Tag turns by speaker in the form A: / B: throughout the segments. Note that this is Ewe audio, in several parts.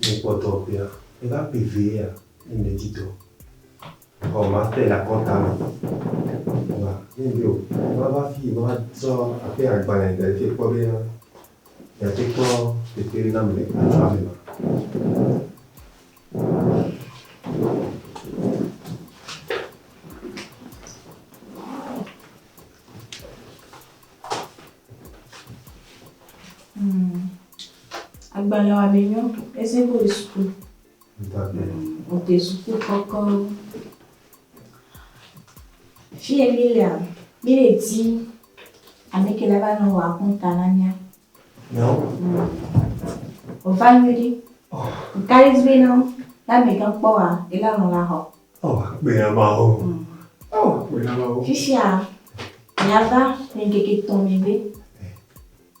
A: Ne ekpɔ dɔ ƒea, eva kpee vea, ne medi dɔ o, makpee le akɔta me. Eva, ne medi o, eva va fii va tsɔ aƒe agbalẽ da ɖi fii kpɔ be yeate kpɔ teƒe nam le aƒea me ma. Agbalẽ wa be nyɔ. Ese ko le suku. Ote suku kɔkɔ. Fie mi lea, mi le di ame ke la va nɔ wa kɔnta na mia. Yo. O va nyo di. Oh. Kari di be nɔ la me gan kpɔ wa e la nɔ la hɔ. Oh, be ya ma ho. Mm. Oh, be ya ma ho. Fifia. Mia va mi keke tɔn mi be.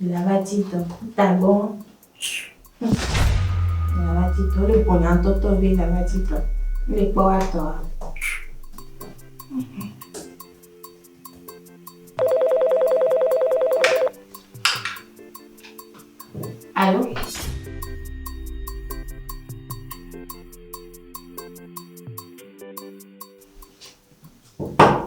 A: Nana ti tɔ. Tagbɔ. Nana ti tɔ. Le bonya tɔtɔ be nana ti tɔ. Le kpɔ wa tɔ. Alo. Thank you.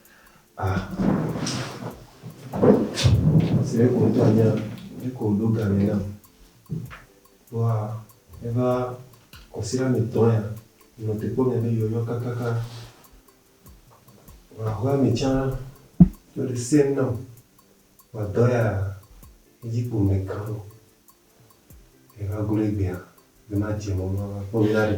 A: A, esi ɖeko wò ŋutɔ ènya nu ke wòɖo ga nɛ nam vɔa, eva kɔsiɖa mi tɔ ya nɔ te kpɔ mia be yɔyɔ kakaka. Vɔa xɔa mi tsã yɔ ɖe sɛm nam vɔa dɔ ya edzi kpo me kã nɔ. Eva glo egbea be madze mɔ be mava kpɔ mi la ɖe.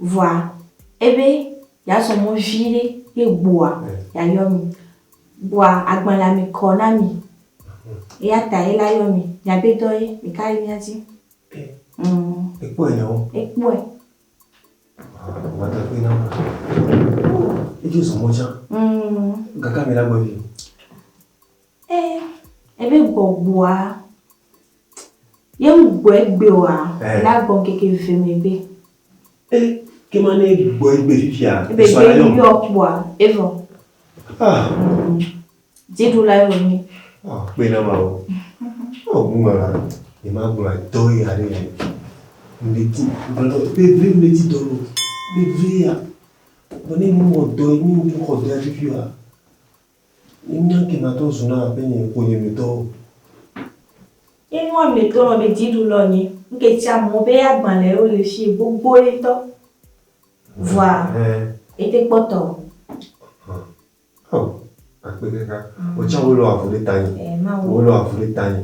A: Vɔa ebe yeazɔ mɔ viɖe ye gbɔa, yeayɔ mi. Vɔa agbalẽa me kɔ na mi. Eya ta ye la yɔ mi. Miabe dɔ ye, ɖeka le mía dzi. Ekpɔe nɛ wo. Ekpɔe. Edzo zɔ mɔ tsã. Gake ame la gbɔ vi. Ebe gbɔgbɔa. Ye ŋ gbɔ egbe oa, la gbɔ ŋkeke ve megbe. E, ke ma ne e gbɔ egbe fifia, e sɔ la yɔm. Be yɔ kpɔa, e vɔ. Ah. Dzi ɖu la e vɔ mi. Ah, kpe na ma o. Oh, mu ma la, e ma gbɔ dɔ ye are ya. Ndeti, gbɔ dɔ, be ve ndeti dɔ lo. Be ve ya. Bɔ ne mu mɔ dɔ ye, mi mu kɔ dɔ ya fifia. Nye mía kenatɔ zuna abe nye ƒonyemetɔwo. Nye nua me tɔ nɔ be dziɖu lɔ nye. Ŋke tsia mɔ be ya gbã le yo le fiye gbogboe ŋtɔ. Vɔa ete kpɔtɔ o. Ɔ, akpe kaka. Wò tsia wo lɔ avu ɖe ta nye. Ɛɛ, Mawu. Wo lɔ avu ɖe ta nye.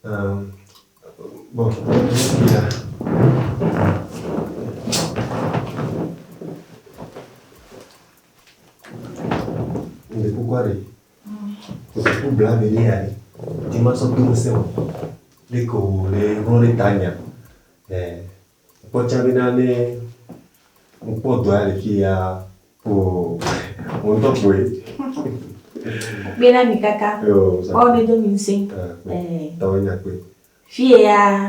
A: Um, bɔ, ya. Ŋde kukua ɖe. Ŋde ku bla mi lé aɖe. Di ma sɔ do ŋusẽ o. Lé ko lé ŋlɔ ɖe ta nya. Ɛ kpɔ tsa be na ne ŋkpɔ dɔ ya le fi ya ko mo ŋutɔ kpɔe. Kpe na mi kaka. Ɔ ne do mi ŋusẽ. Ɛ. Tɔ nya kpe. Fi ya.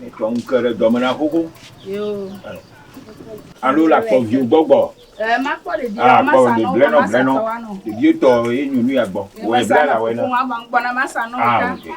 A: Mekpɔ ŋuke ɖe dɔ me na xoxo. Alo la kpɔ viwo gbɔgbɔ. Eh, ma kpɔ ɖevi ah, ma sa no, ma sa no. Ɖevi tɔ ye nyu nu ya gbɔ. Wɔ bla la wɔ na. Ko ma bang gbɔna ma sa no ah, ka.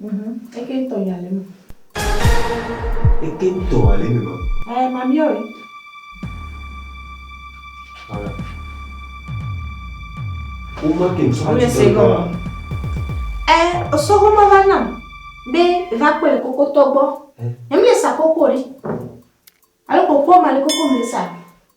A: Mhm. Eke ŋtɔ ya le eme. Eke ŋtɔ ya le eme ma. Ɛɛ mamiɔ e. Ɔla. Woma ke ŋsɔ hati tɔ gbɔ wa. Ɛ osɔ homa va na be va kpe le koko tɔ gbɔ. Ɛ. Emi le sa koko ɖe. Alo koko ma le koko mi le sa.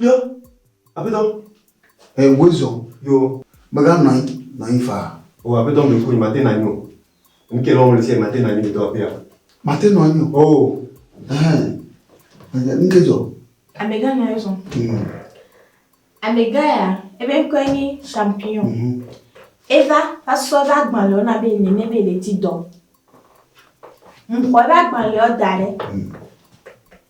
A: Yo, Aƒetɔ, e woe zɔ. Yo. Mega nɔanyi, nɔanyi faa. O Aƒetɔ me ƒonyi mate nanyi o. Ŋke lɔm le se mate nanyi le do aƒea. Mate nɔanyi o. O. Ɛhɛn. Ŋke, ŋke zɔ. Amega nɔanyi zɔ. Mm. Amega ya, ebe ŋkɔe nyi Champion. Mhm. Eva va sɔ ebe agbalɛwo na be nene be le di dɔ. Ŋxɔ ebe agbalɛwo da ɖe. Mm.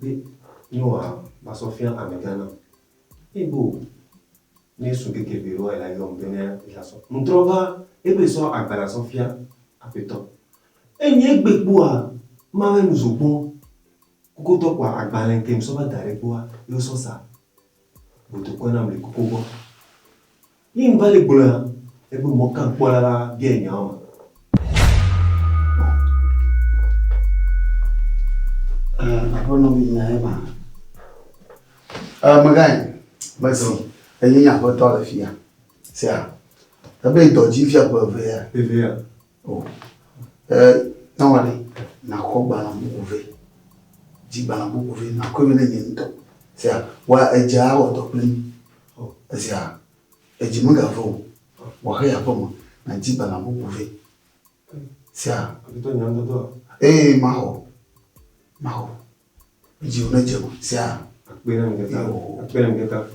A: Be Yehowa va sɔ fia amegã nam. Eye be o, ne esu keke be Yehowa la yɔm be ne yi la sɔ. Ŋtrɔ va ebe sɔ agba la sɔ fia Aƒetɔ. Eye nyi egbe kpoa, ma ŋe nu zogbɔ kokotɔ kpoa agbalẽ ke ŋsɔ va da ɖɛ kpoa, ye wo sɔ sa botokɔe nam le koko gbɔ. Ye ŋva le gblɔea? Eƒe mɔkakpɔla la biae nyawo me. Eh, aƒenɔ mi nyae ma. Eh, megae, mesi, enye nye aƒetɔ le fia. Sea, ebe dɔ dzi fia ƒe evea. Evea. Dɔwɔla nakɔ gbalẽ bubu vɛ, dzi gbalẽ bubu vɛ nakɔe vɛ ne nye ŋutɔ. Sia wa edzi awɔ dɔ kplim. Esia edzi mega vɔ̃ o. Wa xe yi aƒeme na dzi gbalẽ bubu vɛ. Sia. Ee, maxɔ, maxɔ. Dzi wo ne dze o. Sia. Akpe na mi kata. Akpe na mi kata.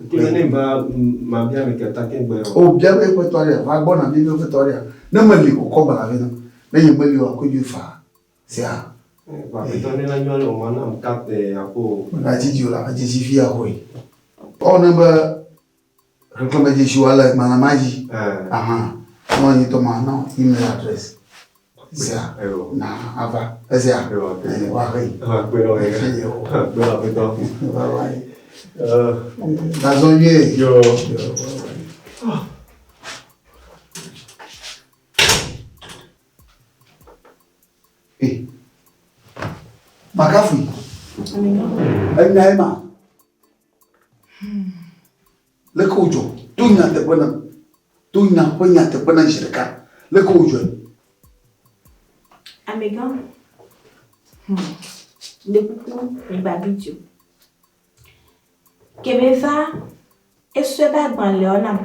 A: Kple ne va ma bia mi kata ke gbe. O bia mi kpe tɔ ɖe. Va gbɔ na bia mi kpe tɔ ɖe. Ne me li o kɔ gbala vi na. Ne ye me li o akpe ju fa. Sia. Ba kpe tɔ ne la nyɔ ne o ma na mi kate akpo. Na dzi dzi o la dzi dzi vi ya hoi. Ɔ ne be Xexlẽme dzi si woalé gbalẽ ma dzi ahan na wò ŋutɔ ma na wò email adrɛs sia na ava esia eye woaxe yi. Gazɔ nyuie. Makafu. Enya ye ma. Leke wodzɔ? Do nyateƒe nam. Do nya ƒe nyateƒe nam zi ɖeka. Leke wodzɔe? Amegã, le kuku migba video. Ke be va esɔe be agbalẽɔ nam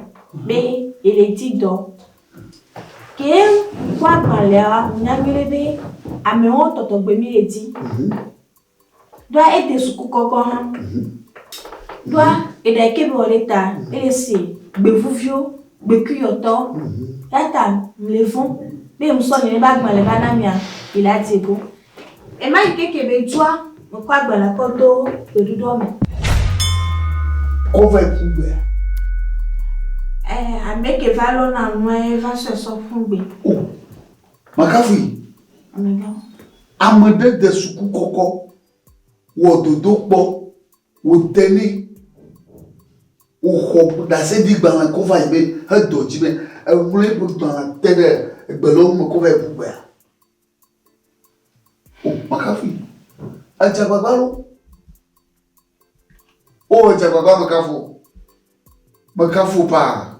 A: be ele di dɔ. Ke kpɔ agbalẽɔ, nya nyuiɖe be amewo tɔtɔ gbe mi le di. Ɖoa ete suku kɔkɔ hã. Ɖoa eɖa eke bɔ ɖe ta ele se gbevuvio, gbekuyɔtɔ. Yata mle vɔn be musɔ ne ba gbalẽ ba na mia yela dze go. Ema yi keke be dua me kɔ agbalẽ kɔ do gbeɖuɖɔ me. Kɔvɛ ƒu gbea? Eh, ameke va lɔna nuɛ va sɔe sɔ ƒu gbe. Oh. Makafui. Ame ɖe de suku kɔkɔ, wɔ dodo kpɔ, wòde nɛ, wòxɔ ɖaseɖigbalẽ kɔ va yi be hedɔ dzi be eŋlɔ eƒe gbalẽ te ɖe egbe lɔ me kɔ va yi ƒu gbea. O, makafui. Edze agbagba ɖo. O, edze agbagba mekafu. Mekafu paa.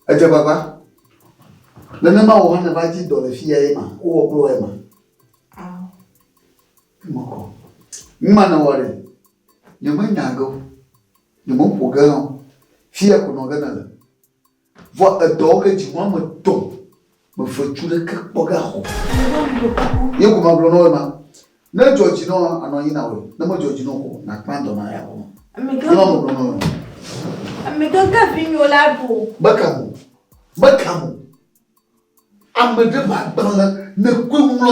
A: Edze agbagba. Nenema wò hã nèva dzi dɔ le fiya ema, wowɔ kple wò ema. Ao. Mekɔ. Numa nèwɔ ɖe? Nyemenya ge o. Nyemeƒo ge hã o. Fiya ko nɔ ge nèle. Vɔ edɔwo ke dzi wɔme etɔ̃ Mefetsu ɖe ke kpɔ ɖa xɔ. Ye ko magblɔ na wò ema. Ne dzɔ dzi na wò anɔ anyi na wòe, ne medzɔ dzi na wò o, nàkpã dɔ na eya gɔme. Ye ma megblɔ na wò ema. Amegãga vinyo la ɖo. Meka mo, meka mo. Ame ɖe magbalẽ ne koe ŋlɔ.